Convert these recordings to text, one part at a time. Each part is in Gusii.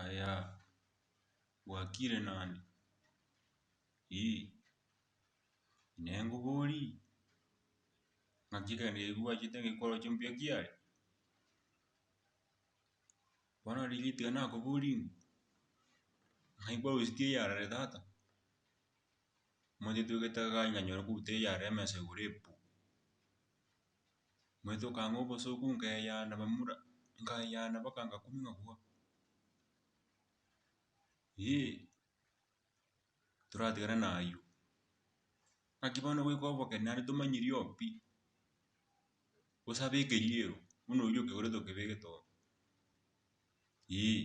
Aya bwakire nande eeh nengobori naki egento eke kobwachete koroche mbuya kiare bono riria tigana nakoborie ng'a naye kwarusetie eyarare tata omanyete togete iga iga nyore kobua eyarare emesa igoro epu. Ngoetoka ang'e obosooku nkeyana bamura, nkayana mpaka ngakumia okwo. Eeh, toratigana na ayio. Naki bono goika obokera naende tomanyiri oo pi, gose abe ekeriero, buna oyio okegorete okebegete oo, eeh.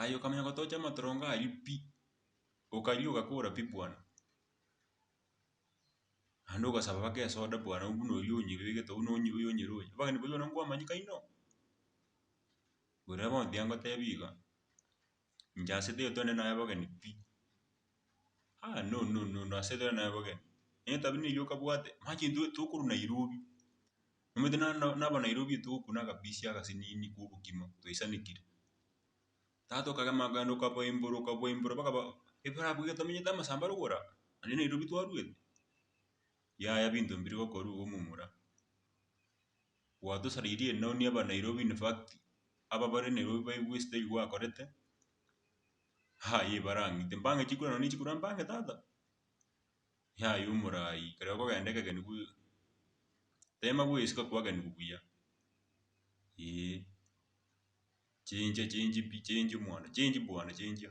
Aye okamanya gotocha amatorongo ayio pi, okaria ogakora pi bwana, naende ogasaba baka esoda bwana oyio buna oyio onyebire egete buna oyio onyere oyo, abageni baria bono nkwamanyeka inwe, bora bono tiyangotebia iga, inche ase taiyo twende naye abageni pi, ah no no no no ase tore naye abageni, etabia neyio okabwate, mache intwe tokorwa Nairobi. Omanyete na- nabo Nairobi etogokwa na agapisi agasinini ka obokima twaisanekire. Tata okagema okagenda okaboimbora okaboimbora mpaka ba- ebara abwo iga tomenyete amasambaro gora naende Nairobi twarwete. Yaya binto mbire gokorwa iga omomura. Gwatosareirie ere nonye aba Nairobi in fact, aba bare Nairobi baigwe esida eyio gwakorete, haye ebara ang'ite. Mbang'e chikura nonye chikura mbang'e tata. yaye omoraai ekero okogenda ekegeni bwe tema bwesuka kwageni bubuya eeh chincha chinchi pi chinchi mono chinchi bwana chinchia.